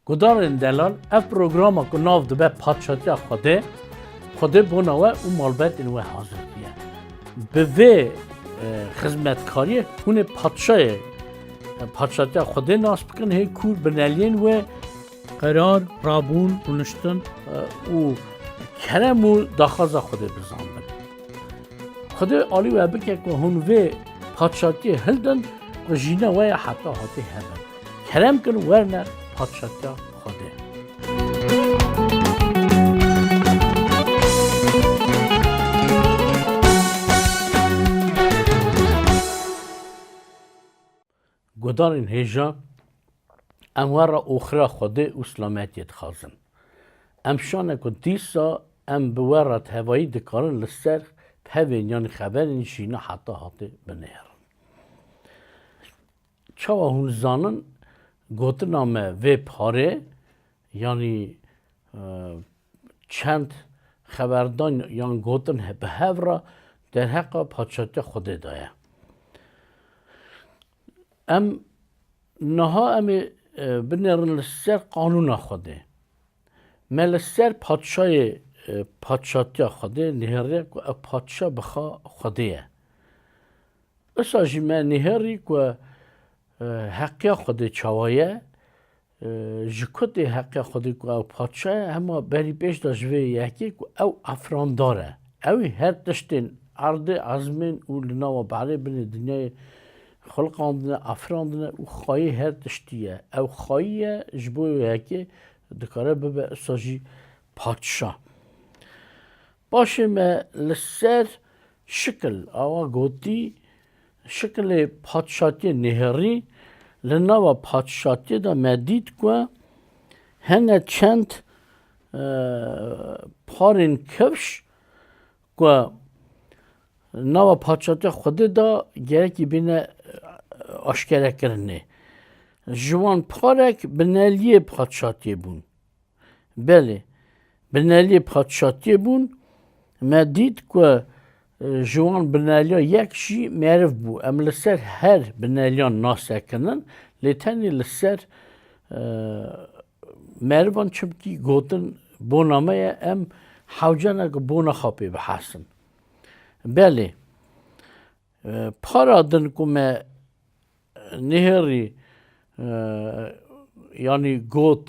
Gudarên delal ev programa ku nav dibe Padşatiya Xwedê, Xwedê bona we û malbetên we hazir diye. Bi vê e, xizmetkariyê hûnê padşayê e, Padşatiya Xwedê nas bikin hê kûr bineliyên we qerar rabûn rûniştin e, û kerem û daxwaza Xwedê bizandin. Xwedê alî we bike ku hûn vê padşatiyê hildin ku jîna we ya heta hatê hebin. Kerem kir werne patşatiya Xwedê. Gudarên hêja em were oxira Xwedê û silametiyê dixwazin. Em şane ku dîsa em bi were tevayî dikarin li ser pevên yanî xeberên jîna heta hatê binêrin. Çawa hûn zanin gotina me vê parê yanî çend xeberdan yan gotin bi hev re derheqa Paşatiya Xwedê de ye. Em niha em ê binêrin li ser qanûna Xwedê. Me li ser Paşayê Paşatiya Xwedê nihêriye ku ev Paşa bixa Xwedê ye. Wisa jî me nêherî ku heqya Xwedê çawa ye, ji ku tê heqya Xwedê ku ew patşa ye, hema berî pêş de ji vê yekê ku ew efrandar e. Ew ê her tiştên erdê, ezmên û li nava berê binê dinyayê xulqandine, efrandine û xayê her tiştî ye. Ew xayî ye, ji bo vê yekê dikare bibe wisa jî patşa. Paşê me li ser şikil awa gotî, Şikilê padşatiyê nêherî, li nava padşatiyê de me dît ku hene çend parên kevş ku nava padşatiya Xwedê de gerekî bîne aşkerekirinê. Ji wan parek bi neliyê padşatiyê bûn. Belê, bineliyê padişatiyê bûn. Me dît ku ji wan bineliya yek jî meriv bû. Em li ser her bineliyan nas sekinin lê tenê li ser merivan çimkî gotin bona me ye em hewce ne ku bona xwe pê bihesin. Belê, Para din ku me nihêrî yanî got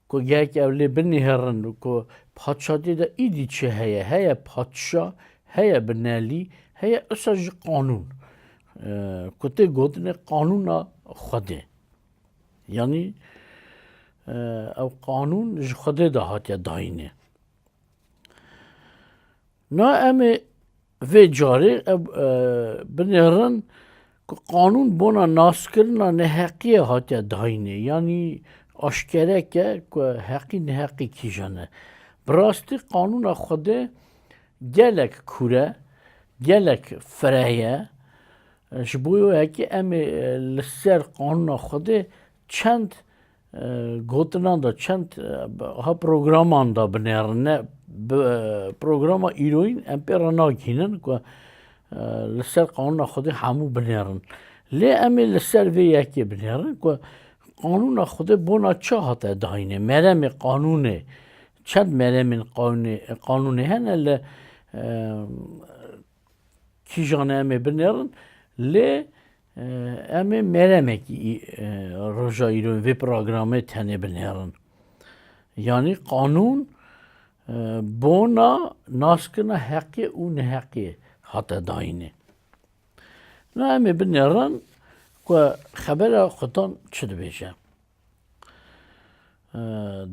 ku gehek ew lê binihêrin ku padşadiyê de îdî çi heye. Heye padşa, heye binelî, heye usa jî qanûn. Ku tê gotinê qanûna Xwedê. Yanî ew qanûn ji Xwedê de hatiye dayînê. Na em ê vê carê ev binêrin ku qanûn bona naskirina neheqiyê hatiye dayînê yanî aşkereke ku heqî neheqî kîjan e. Bi rastî qanûna Xwedê gelek kûr e, gelek fireh ye. Ji bo wekî em ê li ser qanûna Xwedê çend Gotinan da çend ha programan da binêrin ne programa îroyîn em pê re nagihînin ku li ser qanûna Xwedê hemû binêrin. Lê em ê li ser vê yekê binêrin ku qanûna Xwedê bona çi hate dayînê. Meremê qanûnê çend meremên qanûnê hene li kîjan e em ê binêrin lê Em ê meremekî roja îro vê programê tenê binêrin. Yanî qanûn bona naskirina heqê û neheqê hate dayînê. Na em ê binêrin ku xebera xudan çi dibêje.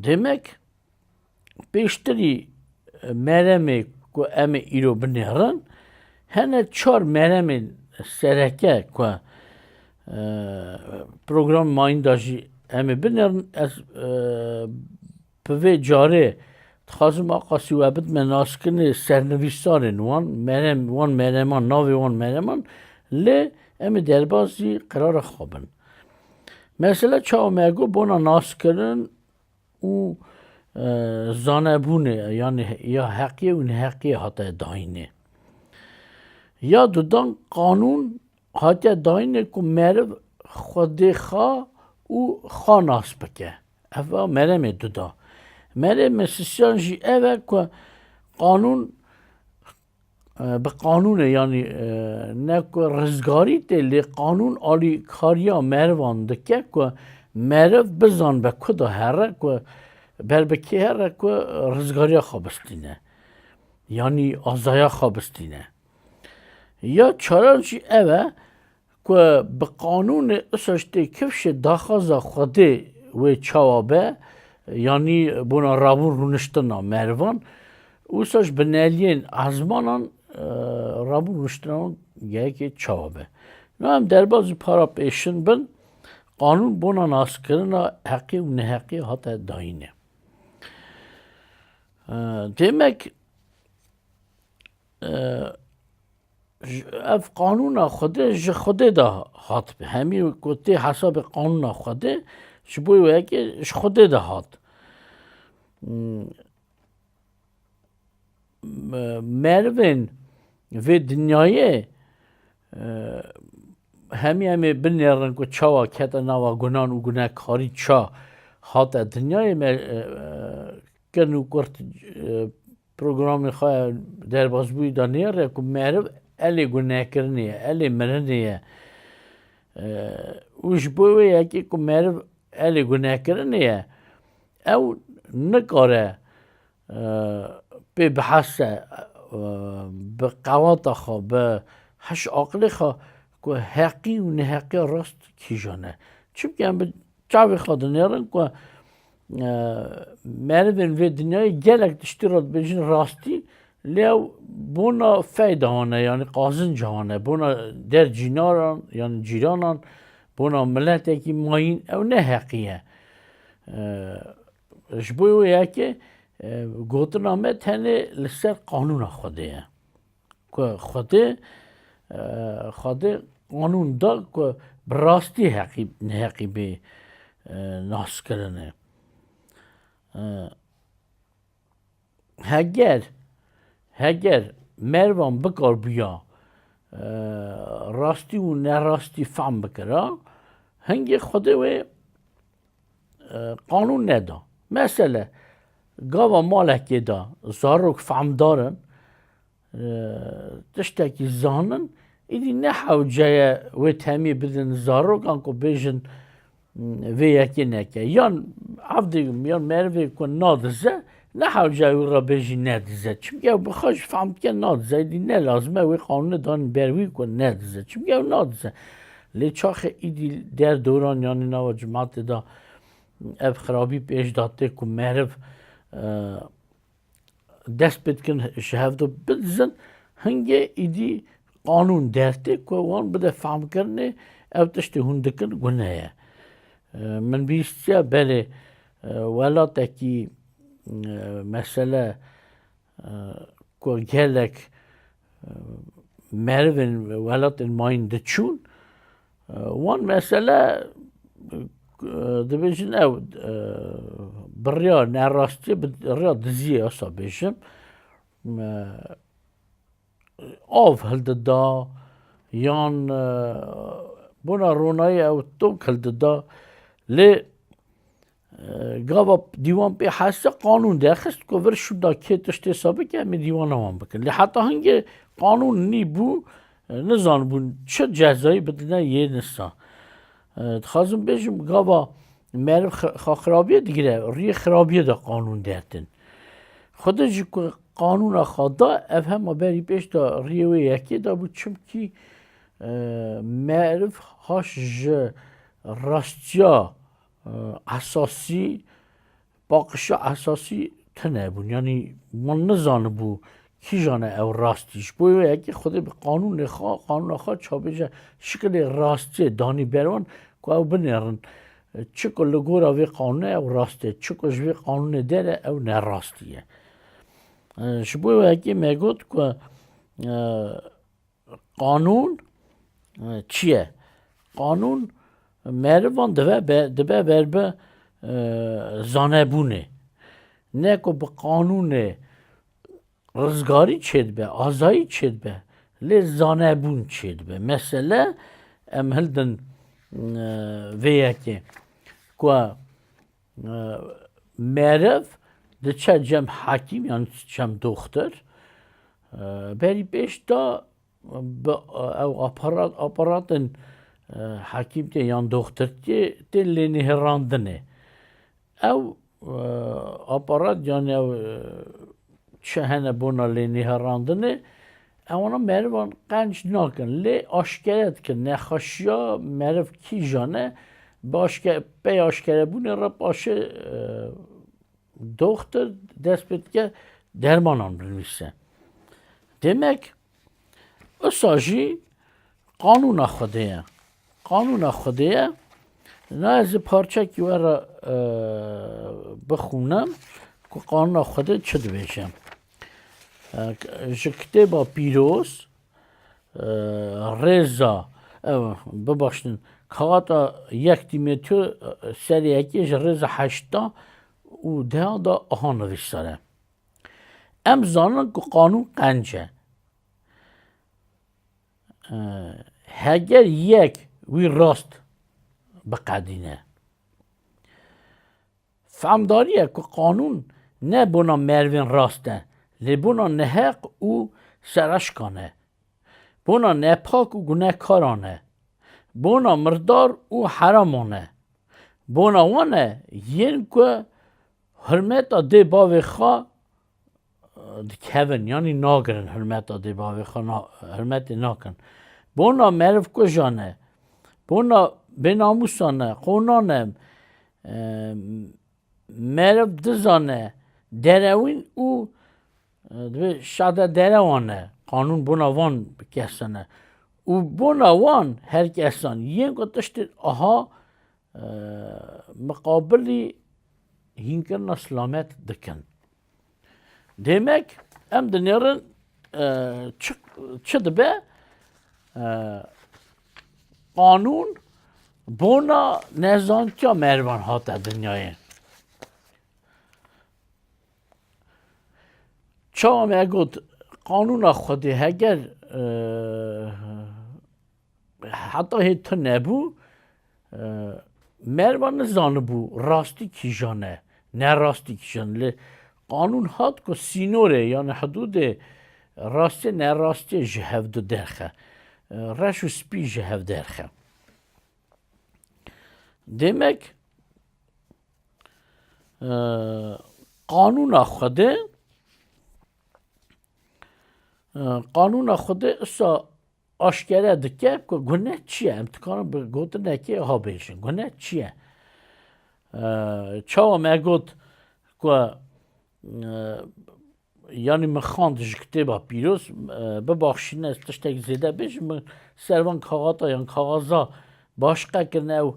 Demek Pêştirî meremê ku em ê îro binêrin hene çar meremên sereke ku program mayînda jî em ê binêrin ez bi vê carê dixwazim a qasî we bidime naskinê sernivîsarên wan merem wan mereman navê wan mereman lê em ê derbasî qerara xwe bin. Mesela çawa me got bona naskirin û zanebûnê yanî ya heqiyê û neheqiyê hate dayînê. Ya di dan qanûn hatiye dayînê ku meriv xwedê xa û xa nas bike. Ev a meremê di da. Merê mesisiyan jî ev e ku qanûn Bi qanûnê yanî ne ku rizgarî tê lê qanûn alî kariya merivan dike ku meriv bizan be ku da here ku ber bi kê here ku rizgariya xwe bistîne. Yanî azaya xwe bistîne. Ya çaran jî ev e Ku bi qanûnê Isojtê kifşê daxwaza Xwedê wê çawa be, yanî bona rabûn rûniştina merivan, wisa ji bineliyên ezmanan rabûn rûniştina wan gehekê çawa be. No em derbas ji para pêşin bin, qanûn bona naskirina heqî û neheqî hate dayîne. Demek Ev qanûna Xwedê ji Xwedê de hatibû. Hemî ku tê hesabê qanûna Xwedê ji bo wê yekê ji Xwedê de hat. Merivên vê dinyayê hemî em ê binêrin ku çawa kete nava gunan û gunekarî ça hate dinyayê me kin û kurt Programê xwe ya derbasbûyî da nê re ku meriv elê gunekirinê ye, elê mirinê ye û ji bo wê yekê ku meriv elê gunekirinê ye ew nikare pê biheste bi qewata xwe bi heş aqilê xwe ku heqî û neheqiya rast kîjan e. Çimkî em bi Çavê xwe dinêrin ku merivên vê dinyayê gelek tiştî re dibêjin rastî lê ew bona feyda hane yanî qazinc hane bona der cînaran yan cîranan bona miletekî mayîn ew ne heqî ye. Ji bo wê yekê gotina me tenê li ser qanûna Xwedê ye. Ku Xwedê Xwedê qanûn da ku bi rastî heqî neheqî bê naskirinê. Heger heger mervan bikarbûya rastî û nerastî fehm bikira, hingê Xwedê wê qanûn neda. Mesele gava malekê de zarok fehmdar in, tiştekî zanin, îdî ne hewceye wê temî bidin zarokan ku bêjin vê yekê neke. Yan evdê yan merivê ku nadize Ne hewce wî re bêjî nedize. Çimkî ew bi xwe jî fehm dike nadize. Îdî ne lazim e wê qanûnê danîn ber wî ku nedize. Çimkî ew nadize. Lê çaxê îdî der doran yanî nava cimatê de ev xirabî pêş de tê ku meriv dest pê dikin ji hev de bidizin hingê îdî qanûn der tê ku wan bide fehmkirinê ev tiştê hûn dikin gune ye. Min bihîstiye belê Welatekî mesele ku gelek merivên welatên mayîn diçûn wan mesele dibêjin ew bi rêya nerastiye bi rêya diziyê wisa bêjim Av hildida yan bona ronayê ew tok hildida lê gava dîwan pê heste qanûn derxist ku vir şûda kê tişt hêsa bike em ê dîwana wan bikin. Lê heta hingê qanûn nî bû nizanibûn çi cezayê bidine yê nisa. Dixwazim bêjim gava Meriv xirabiyê digire, riyê xirabiyê de qanûn dertin. Xwe de ji ku qanûna xwe da ev hema berî pêş da riyê wê yekê da bû çimkî e, meriv haş ji rastiya e, esasî Paqişa esasî tune bûn. Yanî wan nizanibû kîjan e ew rastî. Ji bo yekê Xwedê bi qanûnê xwe, qanûna xwe çavbêje şikilê rastiyê danî ber wan ku ew binêrin. Çiku li gora vê qanûnê ew rast e, çiku ji vê qanûnê dere ew ne rastî ye. Ji bo yekê me got ku Qanûn çi ye? Qanûn merivan dibe dibe ber bi zanebûnê. Ne ku bi qanûnê rizgarî çêdibe, azayî çêdibe lê zanebûn çêdibe. Mesele em hildin vê yekê ku Merev diçe cem hekîm yan cem doxtir. Berî pêş de bi ew aparat aparatên hekîm tê yan doxtir tê tên lê nihêrandinê. Ew aparat yan ew çi hene bona lê nihêrandinê Ewana merivan qenc nakin lê aşkere dikin nexweşiya meriv kîjan e, bi aşke pey aşkerebûnê re paşê doxtir dest pê dike dermanan binivîse. Demek wisa jî qanûna Xwedê ye. Qanûna Xwedê ye na ez ê parçekî we re bixwînim ku qanûna Xwedê çi dibêje. Ji kitêba pîroz rêza ew bibaştin kata yek tîmetiyo serê yekê ji rêza heşta û deha da aha nivîsane. Em zanin ku qanûn qenc e. Heger yek wî rast biqedîne. Fehmdarîya ku qanûn ne bona merivên rast e, lê bona neheq û sereşkan e. Bona nepak û gunekaran e. Bona mirdar û heraman e. Bona wan e yên ku hurmeta dê bavê xwe dikevin yanî nagirin hirmeta dê bavê xwe hirmetê nakin. Bona meriv kujan e, bona bênamusan e, qonan e, meriv dizan e, derewîn û divê şada derewan e. Qanûn bona van kesan e. Û bona wan her kesan yên ku tiştên aha miqabilî hînkirina silamet dikin. Demek em dinêrin çi dibe qanûn bona nezantiya mervan hate dinyayê. Çawa me got qanûna xwedê heger Heta hê tu nebû merva nizanibû rastî kîjan e, ne rastî kîjan li qanûn hat ku sînorê yani hidûdê rastê ne rastê ji hev du derxe. Reş û spî ji hev derxe. Demek qanûna Xwedê qanûna Xwedê isa Aşkere dike ku gune çi ye. Em dikarin bi gotinekê wiha bêjin, gune çi ye? Çawa me got ku yanî min xand ji kitêba pîroz bibaxşîne tiştek zêde bêjin min servan kaxata yan kaxaza baş qekirine ew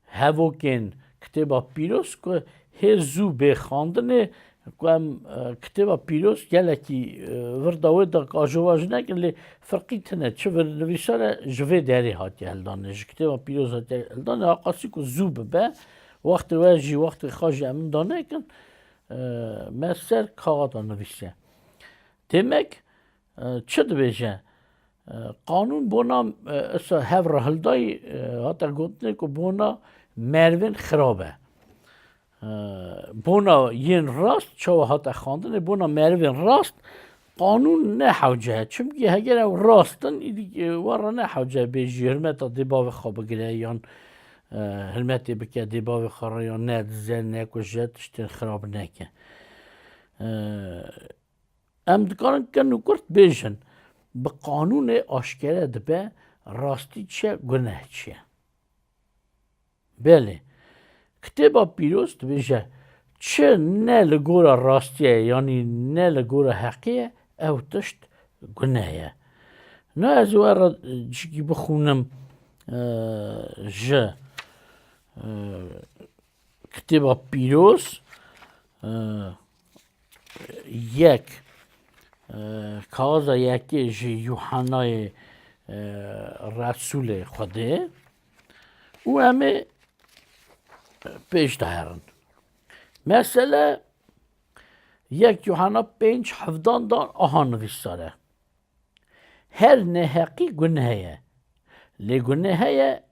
Hevokên Kitêba Pîroz ku hê zû bê xandinê ku em Kitêba Pîroz gelekî vir dawê da ku ajova jî nekin lê firqî tune çi vir nivîsane ji vê derê hatiye hildanê ji Kitêba Pîroz hatiye hildanê ha qasî ku zû bibe wextê we jî wextê xwe jî em da nekin me ser kaxata nivîsiye. Têmek çi dibêje Qanûn bona issa hev re hildayî hate gotinê ku bona merivên xirab e. Bona yên rast çawa hate xandinê bona merivên rast qanûn ne hewce ye. Çimkî heger ew rast in îdî wan re ne hewce ye bê jî hilmeta dê bavê xwe bigire yan hilmetê bike dê bavê xwe re yan nedize, nekuje, tiştên xirab neke. Em dikarin ken û kurt bêjin. Bi qanûnê aşkere dibe rastî çi ye, guneh çi ye. Belê, Kitêba Pîroz dibêje çi ne li gora rastî ye yanî ne li gora heqî ye ew tişt guneh ye. Na ez ê we re cikî bixûnim ji Kitêba Pîroz. Yek, Kaza yekê ji Yuhanayê Resûlê Xwedê û em ê pêş de herin. Mesele yek Yuhana pênc hevdan dan aha nivîsare. Her neheqî guneheye. Lê guneheye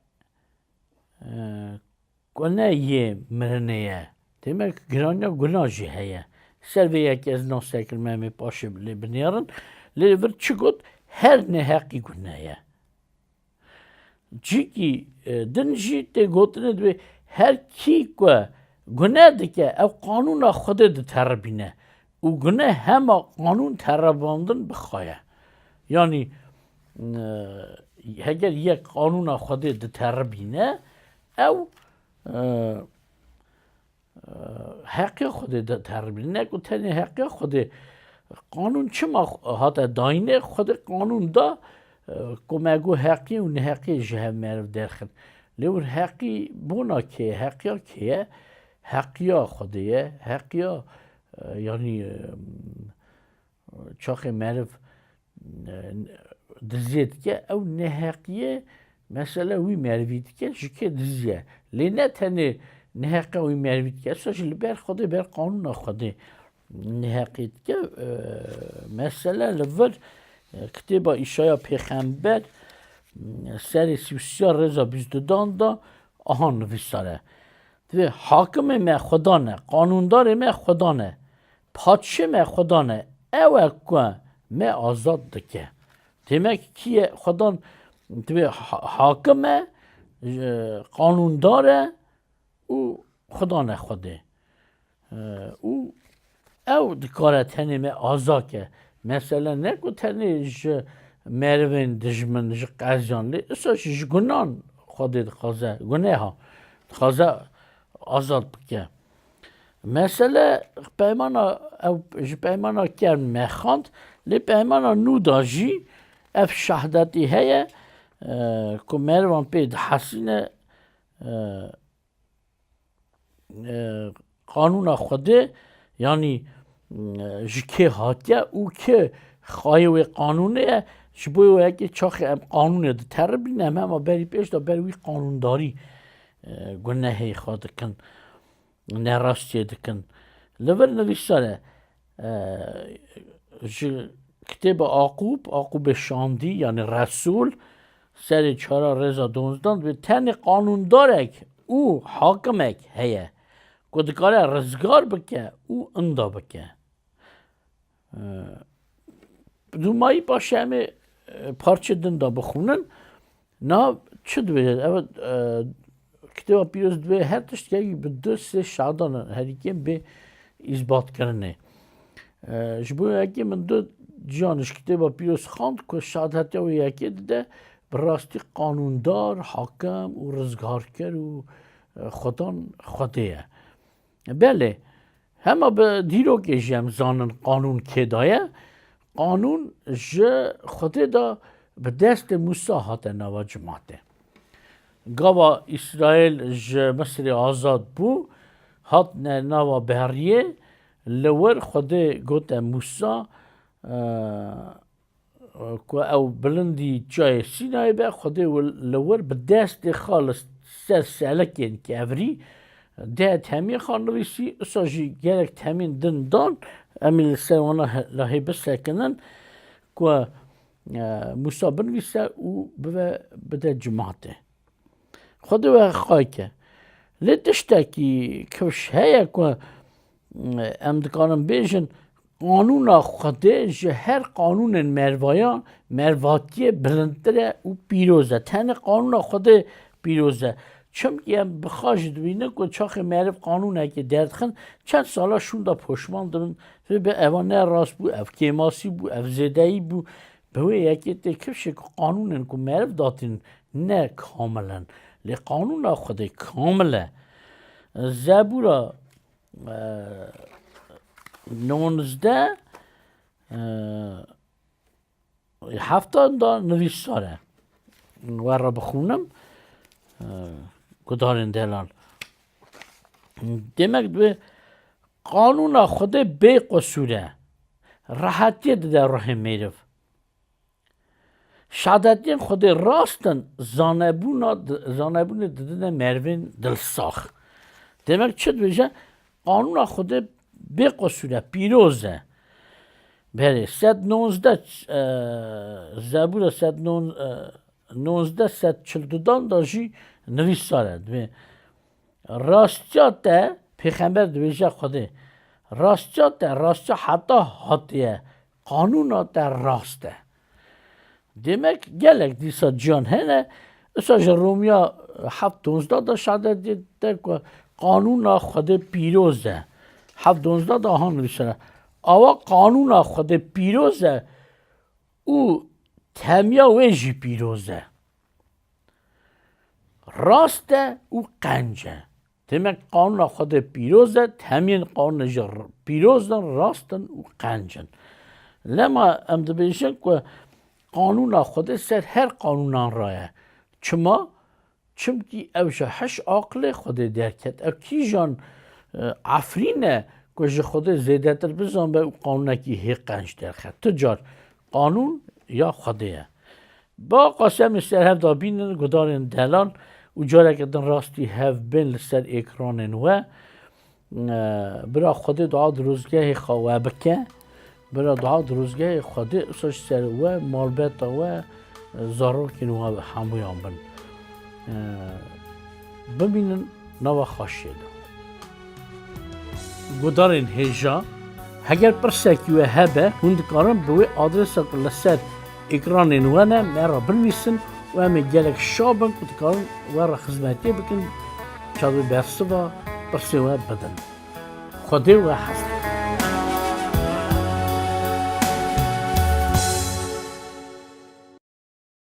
Ku ne yê mirinê ye. Demek giraniya guna jî heye. Ser vê yekê ez nav Serkil Mehmê Paşê lê binêrin. Lê li vir çi got, her neheqî gune ye. Cikî din jî tê gotinê divê her kî ku gune dike ew qanûna Xwedê diteribîne. Û gune hema qanûn terevandin bi xwe ye. Yanî heger yek qanûna Xwedê diteribîne ew heqê Xwedê diteribîne. Ne ku tenê heqê Xwedê qanûn çima hate dayîne Xwedê qanûn da ku me got heqî û neheqî ji hev meriv derxin. Lê wir heqî bona kê ye? Heqiya kê ye? Heqiya Xwedê ye, heqiya Yanî çaxê meriv diziyê dike ew neheqiyê mesela wî merivî dike ji kê diziye. Lê ne tenê neheqa wî merivî dike esa jî li ber Xwedê ber qanûna Xwedê neheqî dike. Mesela li vir kitêba Îşaya Pêxember serê sî û sîya rêza bîst dudan da aha nivîsare. Divê hakimê me Xweda ne, qanûndarê me Xweda ne, patşê me Xweda ne, ew e ku me azad dike. Demek kî ye Xweda divê hakim e, qanûndar e û Xweda ne Xwedê. Û ew dikare tenê me aza ke. Mesele ne ku tenê ji merivên dijmin, ji qeziyan lê isa jî ji gunan Xwedê dixwaze, guneha dixwaze azad bike. Mesele peymana ew ji peymana kevn mexand lê peymana nû de jî ev şehdetî heye ku merivan pê dihesîne qanûna Xwedê yanî ji kê hatiye û kê xayê wê qanûnê ye ji bo wê yekê çaxê em qanûnê diteribîne em hema berî pêş de ber wî qanûndarî gunehê xwe dikin, nerastiyê dikin. Li vir nivîsane Ji kitêba Aqub, Aqubê Şandî yanî Resûl serê çara rêza donzdan divê tenê qanûndarek û hakimek heye ku dikare rizgar bike û inda bike. Dûmayî paşê em ê parçê din de bixwînin. Na çi dibêjin? Ev kitêba pîroz divê her tiştekî bi du sê şadan herîkên bê îsbatkirinê. Ji bo yekê min du ciyan ji kitêba pîroz xand ku şad hetiya wê yekê dide bi rastî qanûndar, hakim û rizgarker û xwedan xwedê ye. Belê, hema bi dîrokê jî em zanin qanûn kê de ye. Qanûn ji Xwedê de bi destê Mûsa hate nava cimatê. Gava Îsraîl ji Misirê azad bû, hatine nava beriyê, li wir Xwedê gote Mûsa, Ku ew bilindî çayê Sînayê be, Xwedê li wir bi destê xwe li ser selekên kevirî deh temî xwe nivîsî, usa jî gelek temîn din dan, em ê li ser wan lahê bisekinin ku Mûsa binivîse û bibe bide cimatê. Xwedê we xayke. Lê tiştekî kewş heye ku em dikarin bêjin qanûna Xwedê ji her qanûnên mervayan mervatiyê bilindtir e û pîroz e. Tenê qanûna Xwedê pîroz e. Çimkî em bi xwe jî dibînin ku çaxê meriv qanûnekê derdixin, çend sala şûnda poşman dibin. Vê bi eva ne rast bû, ev kêmasî bû, ev zêdeyî bû. Bi wê yekê tê kevşê ku qanûnên ku meriv datînin Ne kamil in. Lê qanûna Xwedê kamil e. Zebûra nonizde hefta da nivîsare. We re bixûnim gudarên delan. Demek divê qanûna Xwedê bê qusûr e. Rehetiyê dide ruhê mêrif. Şadeddîn Xwedê rast in zanebûnê didine merivên dilsax. Demek çi dibêje, qanûna Xwedê bêqesûr e, pîroz e. Berê sed nonzde zebûra sed nonzde sed çil dudan de jî nivîsar e. Dibê rastiya te pêxember dibêje Xwedê rastiya te rastiya heta hatiye Qanûna te rast e. Demek gelek dîsa ciyan hene. Isa ji Romiya heft donzdeh de şadet dide ku qanûna Xwedê pîroz e. Heft donzdeh de ha nivîsere. Awa qanûna Xwedê pîroz e û temiya wê jî pîroz e. Rast e û qenc e. Demek qanûna Xwedê pîroz e, temiyên qanûnê jî pîroz in, rast in û qenc in. Lema em dibêjin ku qanûna Xwedê ser her qanûnan re ye. Çima? Çimkî ew ji hiş aqilê Xwedê derket. Ew kîjan efrîn e ku ji Xwedê zêdetir bizanbe û qanûnekî hê qenc derxe. Tu car Qanûn ya Xwedê ye. Ba Qasem li ser hev da bînin gudarên delan û careke din rastî hev bên li ser êkranên we. Bira Xwedê dua dirozgehê xwe we bike. Bira dua dirozgehê Xwedê îsa ji ser we, malbeta we, zarokên we hemûyan bin. Bimînin nava xaşiyê de guhdarên hêja. Heger pirsekî we hebe hûn dikarin bi wê adrêsa ku li ser ekranên we ne me re binivîsin û em ê gelek şa bin ku dikarin we re xizmetê bikin çavê bersiva pirsên we bidin. Xwedê we hez dikin.